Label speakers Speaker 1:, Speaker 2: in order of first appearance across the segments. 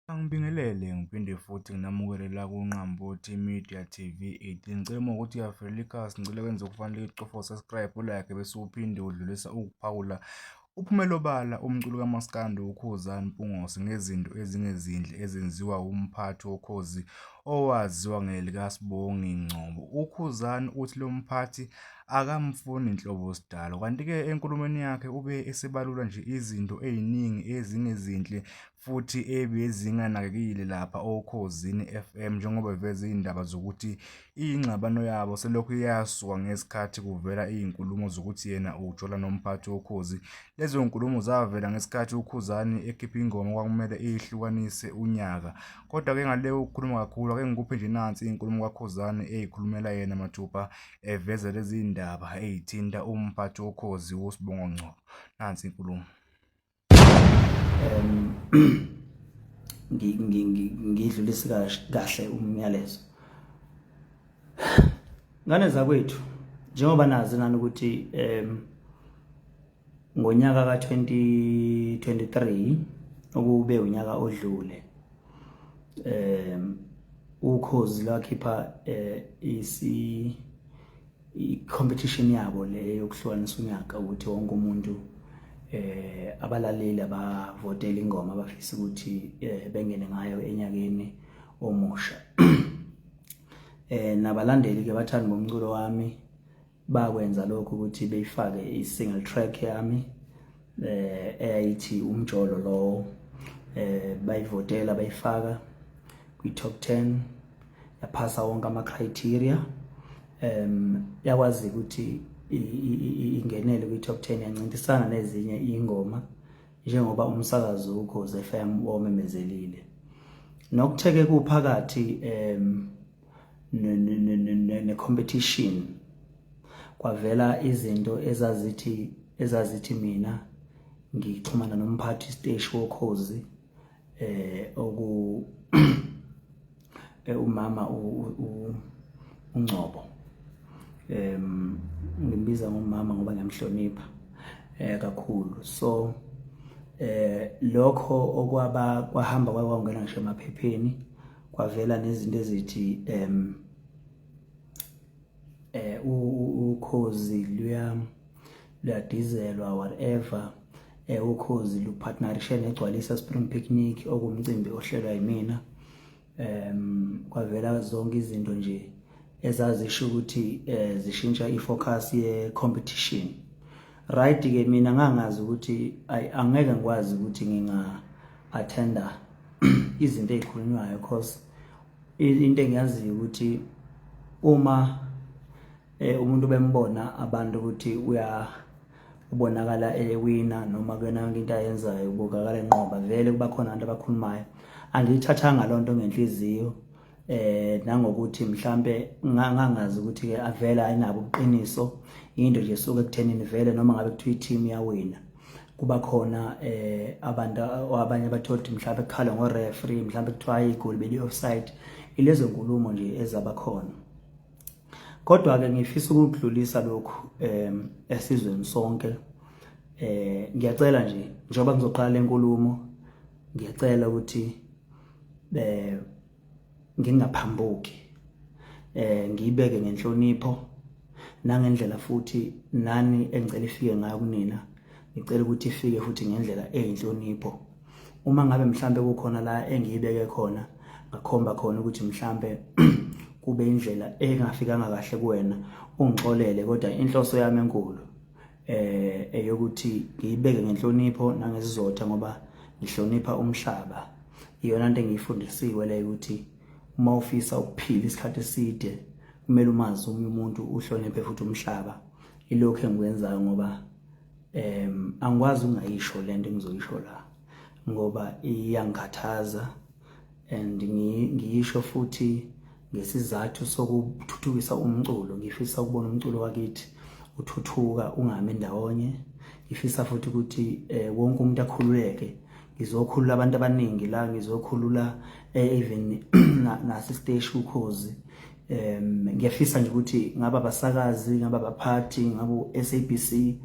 Speaker 1: Angibingelele ngiphinde futhi nginamukele la kuNqambothi Media TV 18 ngicela uma ukuthi uyavelela ikhasi ngicela kwenze ukufanele icofo subscribe ulike bese uphinde udlulisa ukuphawula uphumela obala umculo kamaskandi ukhuzani mpungose ngezinto ezingezinhle ezenziwa umphathi wokhozi owaziwa ngelikasibongi ngcobo ukhuzani uthi lo mphathi akamfuni nhlobo sidalo kanti-ke enkulumeni yakhe ube esebalula nje izinto ey'ningi ezingezinhle futhi ebezinganakekile lapha oKhozini FM njengoba beveza izindaba zokuthi ingxabano yabo selokhu yasuka ngesikhathi kuvela izinkulumo zokuthi yena ujola nomphathi woKhozi. Lezo zinkulumo zavela ngesikhathi uKhuzani ekhipha ingoma okwakumele ihlukanise unyaka. Kodwa-ke ngale kokukhuluma kakhulu ake ngikuphe nje nansi inkulumo kaKhuzani eyikhulumela yena mathupha eveza lezi zindaba ezithinta umphathi woKhozi uSibongo Ngcobo. Nansi inkulumo. um
Speaker 2: ngidlulise kahle umyalezo ngane zakwethu njengoba nazi nani ukuthi um ngonyaka ka-2023 okube unyaka odlule um ukhozi lwakhipha um isi i-competition yabo le yokuhlukanisa unyaka ukuthi wonke umuntu eh abalaleli abavotela ingoma abafisa ukuthi eh, bengene ngayo enyakeni omusha eh nabalandeli ke bathanda ngomculo wami bakwenza lokho ukuthi beyifake i-single track yami eh eyayithi umjolo lowo eh bayivotela bayifaka kwi top 10 yaphasa wonke ama criteria em yakwazi ukuthi ingenele kwi top 10 yancintisana nezinye ingoma njengoba umsakazi ukhoze FM omemezelile nokutheke kuphakathi em ne-competition ne, ne, ne kwavela izinto ezazithi ezazithi mina ngixhumana nomphathi steshi wokhozi eh oku eh, umama uNgcobo em ngimbiza ngomama ngoba ngiyamhlonipha eh kakhulu so eh lokho okwaba kwahamba kwakungena ngisho emaphepheni kwavela nezinto ezithi um eh ukhozi luya luyadizelwa whatever eh ukhozi lupartnerishe negcwalisa spring picnic okumcimbi ohlelwa yimina um kwavela zonke izinto nje ezazisho ukuthi eh zishintsha ifocus ye competition right ke mina ngangazi ukuthi angeke ngikwazi ukuthi nginga athenda izinto ezikhulunywayo because into engiyaziyo ukuthi uma eh, umuntu bembona abantu ukuthi uya ubonakala ewina noma kuyona yonke into ayenzayo ubukakala enqoba vele kuba khona abantu abakhulumayo angiyithathanga loo nto ngenhliziyo eh nangokuthi mhlambe ngangazi ukuthi ke avela ayinabo ubuqiniso into nje suke ekuthenini vele noma ngabe kuthiwa i-team yawina kuba khona eh abantu abanye abathola ukuthi mhlawumbe kukhala ngo-referee mhlawumbe kuthiwa igoli beli-offside ilezo nkulumo nje ezaba khona kodwa-ke ngifisa ukudlulisa lokhu um esizweni sonke um ngiyacela nje njengoba ngizoqala le nkulumo ngiyacela ukuthi eh ngingaphambuki eh ngiyibeke ngenhlonipho nangendlela futhi nani engicela ifike ngayo kunina ngicela ukuthi ifike futhi ngendlela eyinhlonipho uma ngabe mhlambe kukhona la engiyibeke khona ngakhomba khona ukuthi mhlambe kube indlela engafikanga kahle kuwena ungixolele kodwa inhloso yami enkulu eh eyokuthi ngiyibeke ngenhlonipho nangesizotha ngoba ngihlonipha umhlaba iyona into engiyifundisiwe le ukuthi uma ufisa ukuphila isikhathi eside kumele umazi omunye umuntu uhloniphe futhi umhlaba ilokho engikwenzayo ngoba em angikwazi ungayisho lento engizoyisho la ngoba iyangikhathaza and ngiyisho futhi ngesizathu sokuthuthukisa umculo ngifisa ukubona umculo wakithi uthuthuka ungami ndawonye ngifisa futhi ukuthi eh, wonke umuntu akhululeke ngizokhulula abantu abaningi la ngizokhulula eh, even nasesteshi ukhozi um ngiyafisa nje ukuthi ngaba basakazi ngaba baphathi ngabo SABC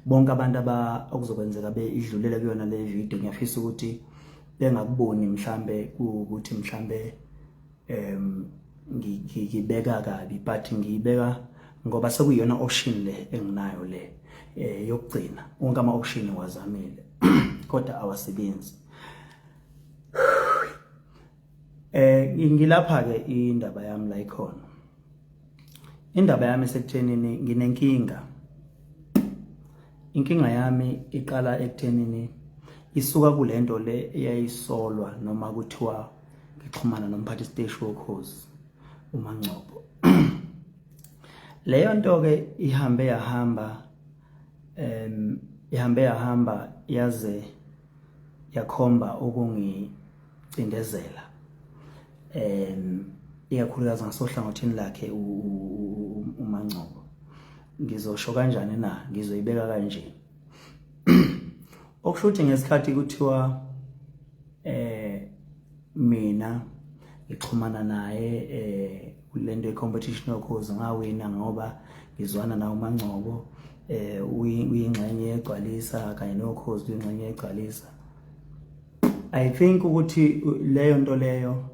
Speaker 2: bonke abantu aba okuzokwenzeka beidlulele kuyona le video ngiyafisa ukuthi bengakuboni mhlambe ukuthi mhlambe em ngibeka kabi but ngiyibeka ngoba sekuyona option le enginayo le eh yokugcina wonke ama option wazamile kodwa awasebenzi eh ngilapha ke indaba yami la ikhona Indaba yami sekuthenini nginenkinga. Inkinga yami iqala ekuthenini isuka kulento le eyayisolwa noma kuthiwa ngixhumana nomphathi siteshi wokhozi uMangcobo. Leyo nto ke ihambe yahamba em ihambe yahamba yaze yakhomba ukungicindezela um ikakhulukazi ngasohlangothini lakhe uMangcobo ngizosho kanjani na ngizoyibeka kanje okusho ukuthi ngesikhathi kuthiwa eh mina ngixhumana naye eh kulento yecompetition yokhozi ngawina ngoba ngizwana nawo mangcobo eh uyingxenye yegcwalisa kanye nokhozi uyingxenye yegcwalisa i think ukuthi leyo nto leyo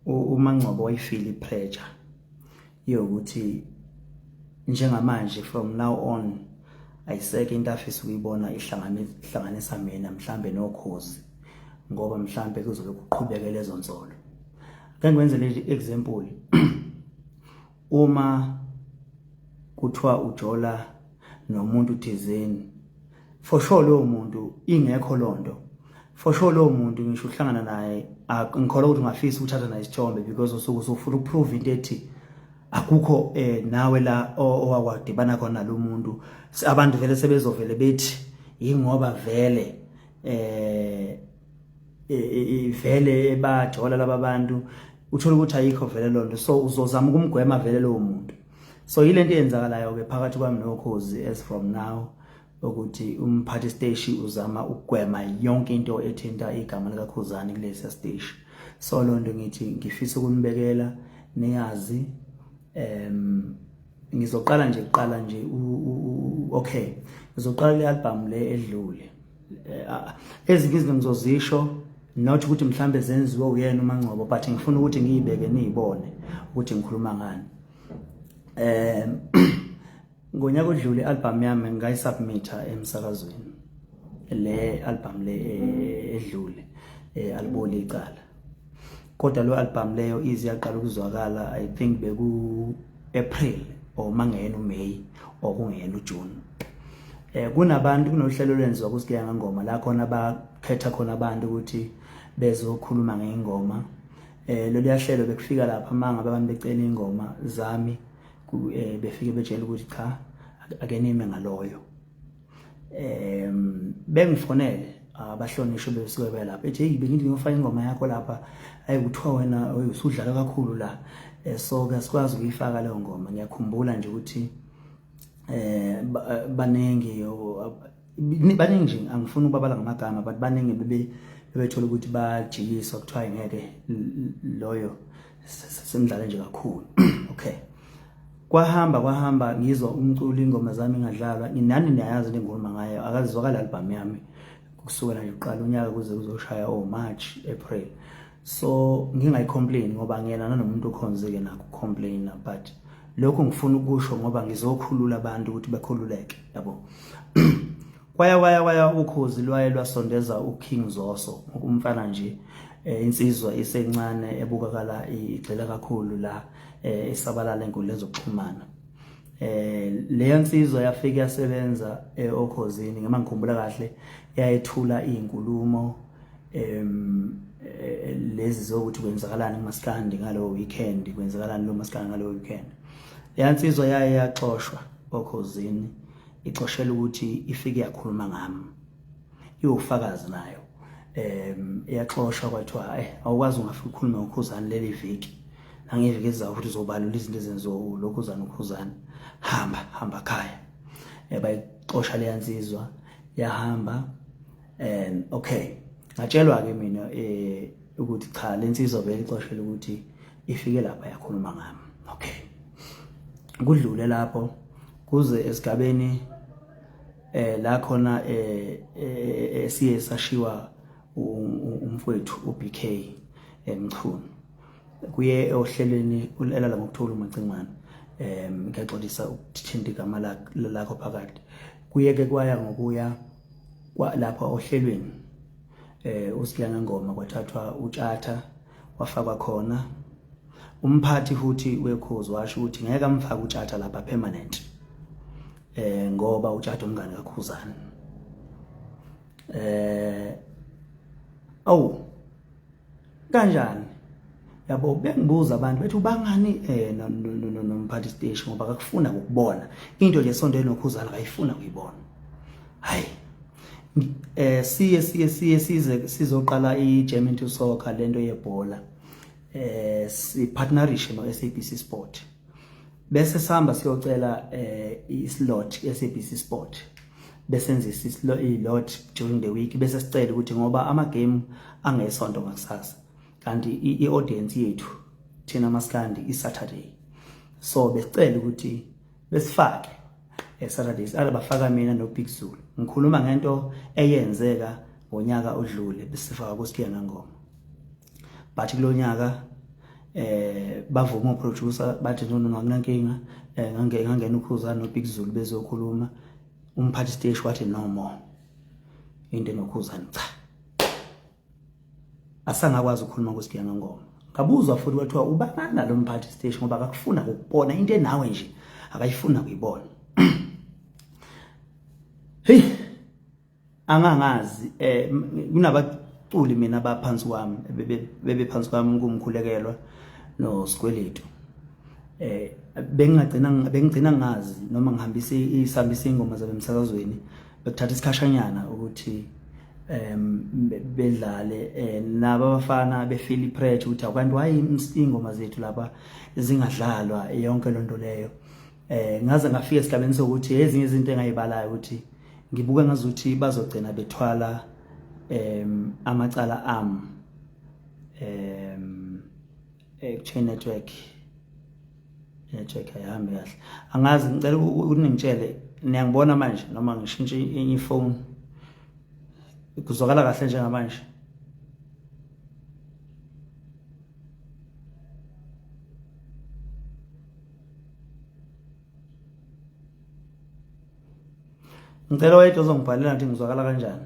Speaker 2: umangcobo wayifili pressure yokuthi njengamanje from now on ayiseke into afisa ukuyibona ihlanganisa mina mhlambe nokhozi ngoba mhlambe kuzobe kuqhubeke lezo nsolo ake ngwenze le example uma kuthiwa ujola nomuntu thizeni for sure lowo muntu ingekho lonto for sure lowo muntu ngisho uhlangana naye ngikholwa ukuthi ungafisa ukuthatha naye isithombe because usuke usufuna ukuprove into ethi akukho eh nawe la owawadibana khona lo muntu abantu vele sebezovele bethi yingoba vele eh ivele e, e, bajola laba bantu uthola ukuthi ayikho vele lonto so uzozama ukumgwema vele lowo muntu so yilento eyenzakalayo ke phakathi kwami nokhozi as from now ukuthi umphathi steshi uzama ukugwema yonke into ethinta igama likakhuzani kulesi steshi so lonto ngithi ngifisa ukunibekela niyazi em ngizoqala nje kuqala nje okay ngizoqala le album le edlule eh, ah, ezinye izinto ngizozisho not ukuthi mhlambe zenziwe uyena uMangcobo but ngifuna ukuthi ngiyibeke niyibone ukuthi ngikhuluma ngani eh ngonyaka odlule album yami ngayisubmita emsakazweni le album le eh, edlule eh, aliboli icala kodwa lo album leyo ize yaqala ukuzwakala i think beku April or mangeyena uMay or kungeyena uJune eh kunabantu kunohlelo lwenziwa kusigeya ngengoma la khona bakhetha khona abantu ukuthi bezokhuluma ngengoma eh lolu yahlelo bekufika lapha manga abantu becela ingoma zami eh, befike betshela ukuthi cha akenime ngaloyo um bengifonele abahlonishwe besuke belapha ethi hey bengithi ngiyofaka ingoma yakho lapha ayi kuthiwa wena usudlala kakhulu la eh, so ke sikwazi ukuyifaka leyo ngoma ngiyakhumbula nje ukuthi eh baningi baningi nje angifuni ukubabala ngamagama but baningi bebe bebethola ukuthi bajikiswa kuthiwa ngeke loyo semdlale nje kakhulu okay kwahamba kwahamba ngizwa umculo ingoma zami ngadlalwa nginani niyayazi le ngoma ngayo akazizwakala albhamu yami kusukela nje kuqala unyaka kuze kuzoshaya o oh, March April so ngingayicomplain ngoba ngiyena nanomuntu okhonzeke nakho complain but lokho ngifuna ukusho ngoba ngizokhulula abantu ukuthi bakhululeke yabo kwaya kwaya kwaya ukhozi lwaye lwasondeza uKing Zoso umfana nje eh, insizwa isencane ebukakala igxila kakhulu la eh, esabalala enkundleni zokuxhumana eh leyo nsizwa yafika yasebenza eh, okhozini ngema ngikhumbula kahle yayethula izinkulumo em eh, lezi zokuthi kwenzakalani kumaskandi ngalo weekend kwenzakalani lo maskandi ngalo weekend leyo nsizwa yaye yaxoshwa okhozini icoshela ukuthi ifike yakhuluma ngami iwufakazi nayo um iyaxoshwa kwathiwa eh awukwazi ungafika ukhulume ngokhuzane leli viki nangeviki ezizayo futhi uzobalula izinto ezenziwa ulokhuzane ukhuzane hamba hamba khaya um bayixosha leya nsizwa yahamba um okay ngatshelwa-ke mina um ukuthi cha le nsizwa vele ixoshela ukuthi ifike lapha yakhuluma ngami okay kudlule lapho kuze esigabeni eh la khona eh, eh, eh siye sashiwa umfowethu uBK emchunu kuye ohlelweni ulala ngokuthola umacingwane em ngiyaxolisa ukuthinta igama lakho phakathi kuye ke kwaya ngokuya lapha ohlelweni eh uSiyangangoma kwathathwa utshatha wafakwa khona umphathi futhi wekhozi washo ukuthi ngeke amfake utshatha lapha permanent eh ngoba utshatha umngane kakhuzana eh awu kanjani yabo bengibuza abantu bethi ubangani eh nomphathi station ngoba akakufuna ukubona into nje sonto enokhuzana akayifuna kuyibona hayi eh siye siye siye size sizoqala iGerman to Soccer lento yebhola eh si partnership no SABC Sport bese sihamba siyocela eh islot SABC Sport besenzisa islo ilot during the week bese sicela ukuthi ngoba ama game angesonto ngakusasa kanti i audience yethu thina maskandi i Saturday so besicela ukuthi besifake esaturdays alabafaka mina nobig zulu ngikhuluma ngento eyenzeka ngonyaka odlule besifaka kusikiya ngengoma but kulonyaka eh bavuma uproducer bathi no no akunankinga eh, ngangena ngangena ukhuzana nobig zulu bezokhuluma umphathi stage wathi no more into enokhuzana cha asangakwazi ukukhuluma kuSibiya ngengoma ngabuzwa futhi kwathiwa ubanana lo mphathi stage ngoba akakufuna ukubona into enawe nje akayifuna kuyibona hey angangazi eh kunabaculi mina abaphansi kwami bebe phansi kwami kumkhulekelwa no sikweletu eh bengagcina bengigcina ngazi noma ngihambise isambisa ingoma zabe emsakazweni bekuthatha isikhashanyana ukuthi um bedlale eh, nabo abafana befeel ipressure ukuthi abantu why ingoma zethu lapha zingadlalwa yonke lento leyo eh ngaze ngafika esigabeni sokuthi ezinye izinto engayibalayo ukuthi ngibuke ngazuthi bazogcina bethwala em amacala am em eh chain network network ayihambi kahle angazi ngicela uningitshele niyangibona manje noma ngishintshe enye ifoni kuzwakala kahle njengamanje ngicela wayedwa ozongibhalela ngithi ngizwakala kanjani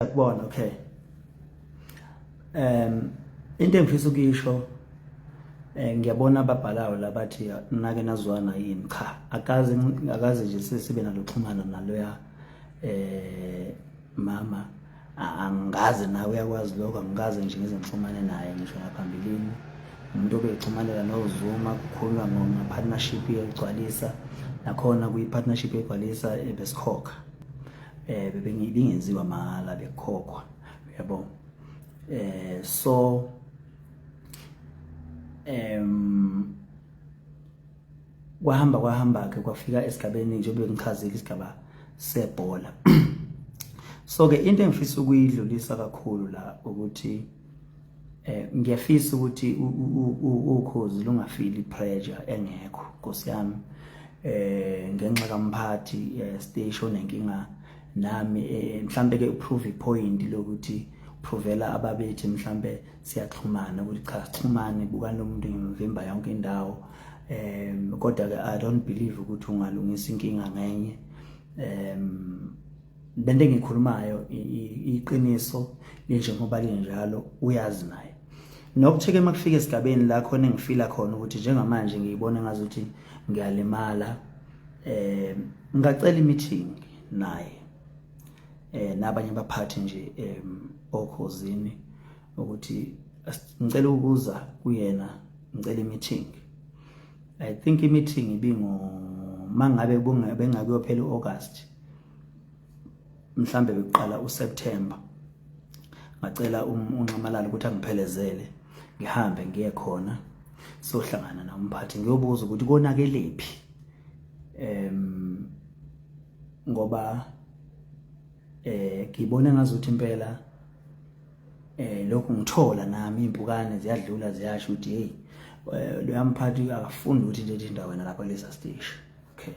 Speaker 2: yakubona okay um into engifisa ukuyisho eh ngiyabona ababhalayo labathi nake nazwana yini cha akazi akazi nje sesibe naloxhumana naloya eh mama angazi nawe uyakwazi lokho angikaze nje ngize ngixhumane naye ngisho ngaphambilini umuntu obexhumanela nozuma kukhuluma ngepartnership yokugcwalisa nakhona kuyi-partnership yokugcwalisa ebesikhokha eh bengingenziwa mahala bekhokhwa yabo eh so em kwahamba kwahamba ke kwafika esigabeni njengoba ngichazile isigaba sebhola so ke into engifisa ukuyidlulisa kakhulu la ukuthi Eh ngiyafisa ukuthi ukhozi lungafili pressure engekho Nkosi yami. Eh ngenxa kamphathi eh, station nenkinga nami eh, mhlambe ke uprove point lokuthi provela ababethi mhlambe siyaxhumana ukuthi cha sixhumane buka nomuntu ngimvimba yonke indawo eh kodwa ke i don't believe ukuthi ungalungisa inkinga ngenye eh le nto engiyikhulumayo iqiniso linjengoba linjalo uyazi naye nokutheke uma kufika esigabeni la khona engifila khona ukuthi njengamanje ngiyibona ngazuthi ngiyalimala eh ngacela i-meeting naye eh nabanye abaphathi nje em okhozini ukuthi ngicela ukuza kuyena ngicela i-meeting i think i-meeting ibingo mangabe bengakuyophela u-August mhlambe bekuqala uSeptember ngacela um-, unxamalala ukuthi angiphelezele ngihambe ngiye khona sohlangana na umphathi ngiyobuza ukuthi konakelephi em ngoba eh ngibona ngazuthi impela eh lokhu ngithola nami impukane ziyadlula ziyasho ukuthi hey eh, loyamphathi akafuni ukuthi nje indawo wena lapha kulesa station okay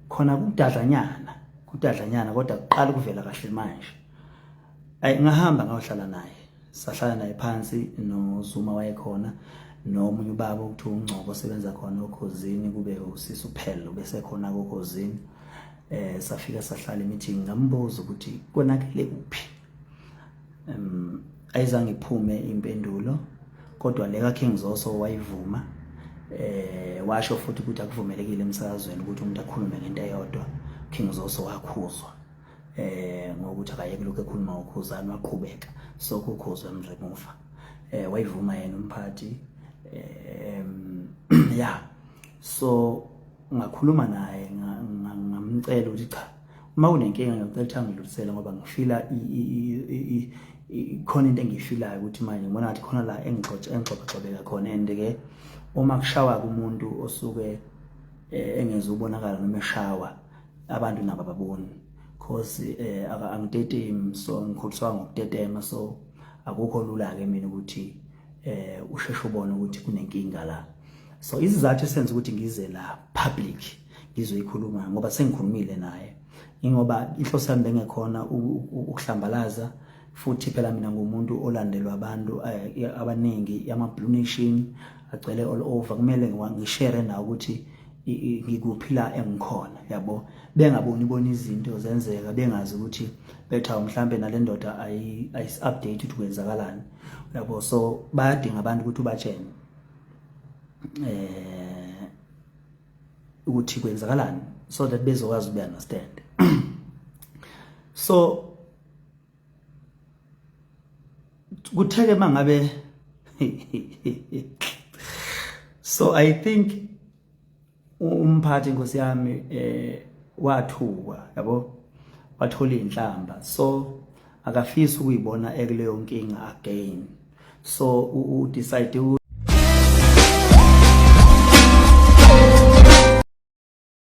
Speaker 2: khona kudadlanyana kudadlanyana kodwa kuqala ukuvela kahle manje ay ngahamba ngayohlala naye sahlala naye phansi noZuma wayekhona nomunye ubaba okuthiwa uNgcobo osebenza khona okhozini kube usisi uphelo bese khona kokhozini eh safika sahlala emeeting ngambuza ukuthi konakele kuphi um ayizange iphume impendulo kodwa le kaKing Zoso wayivuma eh washo futhi ukuthi akuvumelekile emsakazweni ukuthi umuntu akhulume ngento eyodwa King Zoso wakhuzwa eh ngokuthi akayeke lokho ekhuluma ukhuzani waqhubeka sokukhuzwa emremuva eh wayivuma yena umphathi eh ya so ngakhuluma naye ngamcela ukuthi cha uma unenkinga ngiyocela ukuthi angidlulisele ngoba ngifila khona into engiyifilayo ukuthi manje ngibona ngathi khona la engigxobagxobeka khona and-ke uma kushawa kumuntu osuke eh, engeze ubonakala noma eshawa abantu nabo ababoni cause eh, angitetemi so ngikhuliswa ngokutetema so akukho lula-ke mina ukuthi eh usheshe ubone ukuthi kunenkinga la so isizathu esenza ukuthi ngize la public ngizoyikhuluma ngoba sengikhulumile naye ingoba inhloso yami bengekhona ukuhlambalaza futhi phela mina ngumuntu olandelwa abantu eh, abaningi ama blue nation agcwele all over kumele ngishare nawo ukuthi ngikuphila engikhona yabo bengaboni bona izinto zenzeka bengazi ukuthi betha mhlambe nalendoda ayi ayi update ukuthi kwenzakalani yabo so bayadinga abantu ukuthi ubatshene eh ukuthi kwenzakalani so that bezokwazi ukuya understand so kutheke mangabe so i think umphathi inkosi yami eh wathukwa yabo wathola inhlamba so akafisi ukuyibona ekuleyo nkinga again so u decide